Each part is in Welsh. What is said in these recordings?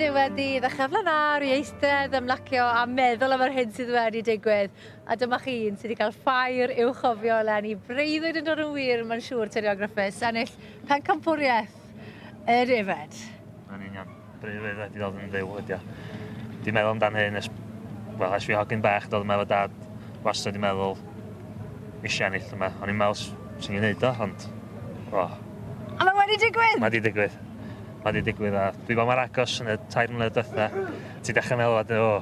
Dwi wedi ddechrau flaen lawr i eistedd, ymlacio a meddwl am yr hyn sydd wedi digwydd. A dyma chi un sydd wedi cael ffair i'w chofio eleni. Breuddwyd yn dod yn wir, mae'n siŵr, Tediog Griffiths, ennill pencampwriaeth y defaid. Yn union. Breuddwyd wedi dod yn fyw ydi o. Dwi'n meddwl amdan hyn ers, wel, ers fi hogyn bach, dod yma efo dad, wastad wedi meddwl, eisiau ennill yma. O'n i'n meddwl, swn i'n neud o, ond, o. A mae wedi digwydd! Mae wedi digwydd. ma' 'di digwydd a dwi fel mor agos yn y tair mlynedd dwetha ti dechre meddwl wedyn o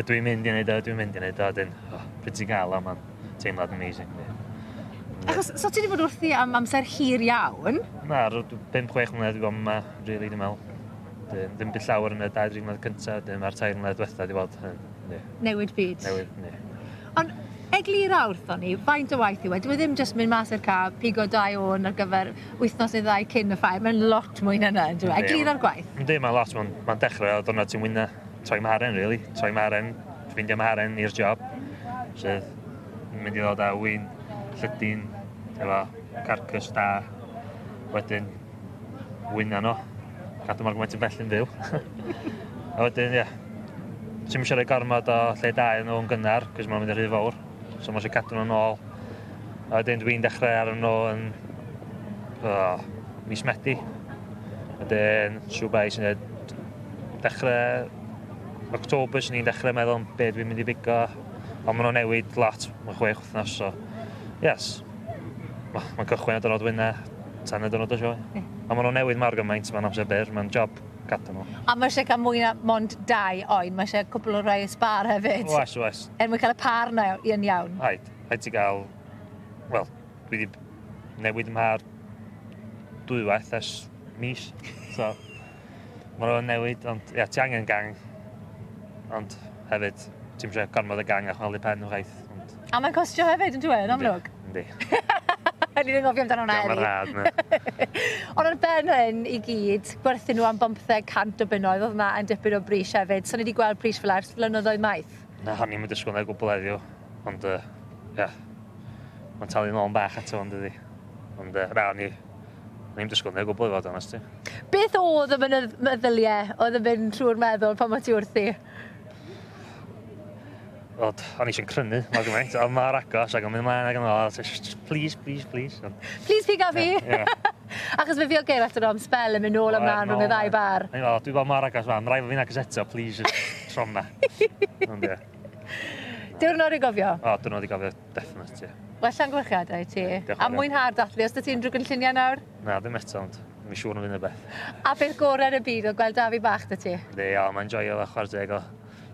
ydw i'n mynd i neud o ydw i'n mynd i neud o a 'dyn o pryd ti'n ga'l o ma'n teimlad amazing fi. Achos so ti 'di bod wrthi am amser hir iawn? Na ro- dw- pump chwech mlynedd dwi bod 'ma rili dwi me'wl. Dyn ddim by llawer yn y dau dri mlynedd cynta 'dyn ma'r tair mlynedd dwetha 'di bod yn ie. Newid byd. Newid, ie. Ond eglura wrthon ni, faint o waith yw e? Dyw e ddim jyst mynd mas i'r car, pigo dau ôn ar gyfer wythnos neu ddau cyn y ffair. Mae'n lot mwy na 'na, yndyw e? Yndi. Eglura'r gwaith. Yndi, mae'n lot. Mae'n ma dechrau o ddiwrnod ti'n wyna troi mharen, really. Troi mharen, ffeindio mharen i'r job. Sydd yn mynd i ddod â win, llydyn, efo carcass da. Wedyn Wyna nhw. Cadw mor gymaint yn bell yn fyw. a wedyn, ie. Ti'n mysio rhoi gormod o lle da iddyn nhw'n gynnar, cos mae'n mynd yn rhy fawr. So mae eisiau cadw nhw'n ôl. A wedyn dwi'n dechrau ar nhw yn... Oh, mis Medi. Wedyn, siw bai sy'n dweud... Dechrau... October sy'n ni'n dechrau meddwl be dwi'n mynd i bigo. Ond maen nhw'n newid lot. Mae chwech wythnos, so... Yes. Wel, mae'n cychwyn ar dwrnod Wynne, tan y dwrnod y sioe. Ie. A maen nhw'n newid mor gymaint, mae'n amser byr, mae'n job gadw nhw. A mae eisiau cael mwy na mond dau oen, mae eisiau cwpl o rai y sbar hefyd. Oes, oes. Er mwyn cael y par na i yn iawn. Rhaid, rhaid ti gael... Wel, dwi wedi newid ymha'r dwywaith ers mis, so... Mae nhw'n newid, ond ia, ti angen gang. Ond hefyd, ti'n siarad gormod y gang a chwalu pen o gwaith. Ond... A mae'n costio hefyd yn dweud, amlwg? Yndi. O'n i'n anghofio amdano hwnna Diolch rad, na. Ond ar ben hyn i gyd, gwerthu nhw am 500 o bunnoedd, oedd yna yn dipyn o bris hefyd. So ni wedi gweld pris fel ers flynyddoedd maith. Na, o'n i'n mynd ysgwyl na gwbl eddiw. Ond, uh, yeah. Mae'n talu'n ôl yn bach ato, ond ydi. Ond uh, na, ni O'n i'n disgwyl neu o gwbl i fod onest ti. Beth oedd y meddyliau oedd yn mynd trwy'r meddwl pan mae ti wrthi? Wel, o'n eisiau crynu mor gymaint, ond mae'r agos ac yn mynd mlaen ac yn ôl, just please, please, please. Please piga fi! Achos fe fi o geir at yr am spel yn mynd nôl ymlaen rhwng y ddau bar. Dwi'n gweld mae'r agos fan, rhaid fo fi'n agos eto, please, trom na. Diwrnod i gofio. O, diwrnod i gofio, definite, ie. Well llongyfarchiadau i ti. A mwynhau'r dathlu. Os da ti'n drwy gynlluniau nawr? Na, ddim eto, ond mi siŵr yn fynd y beth. A beth gorau yn y byd oedd gweld Dafi bach da ti? Ynddi, o, mae'n joio fo, chwarae teg o.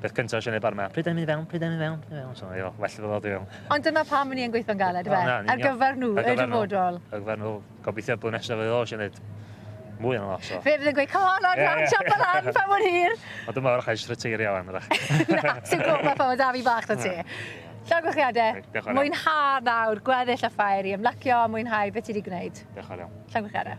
Beth cyntaf sy'n ei bar yma, pryd da ni'n mynd i fewn, pryd da ni'n mynd i fewn, pryd da ni'n mynd i fewn. So, well fo ddod i fewn. Ond dyna pam ni yn gweithio'n galed, yfe? Ar gyfer nhw, y dyfodol. Ar gyfer nhw. Gobeithio bod nesaf fydd oes yn neud mwy o'n oes o. Fe fydd yn gweud, come on, Adran, yeah. siop yn an, pa mor hir. Ond dyma o'r chais rhyteirio lan, ydych. Na, ti'n gwybod pa ffordd da fi bach na ti. Llongychiadau, mwynha nawr, gweddill y ffair i ymlacio, mwynhau beth ti wedi gwneud. Diolch yn iawn. Llongychiadau.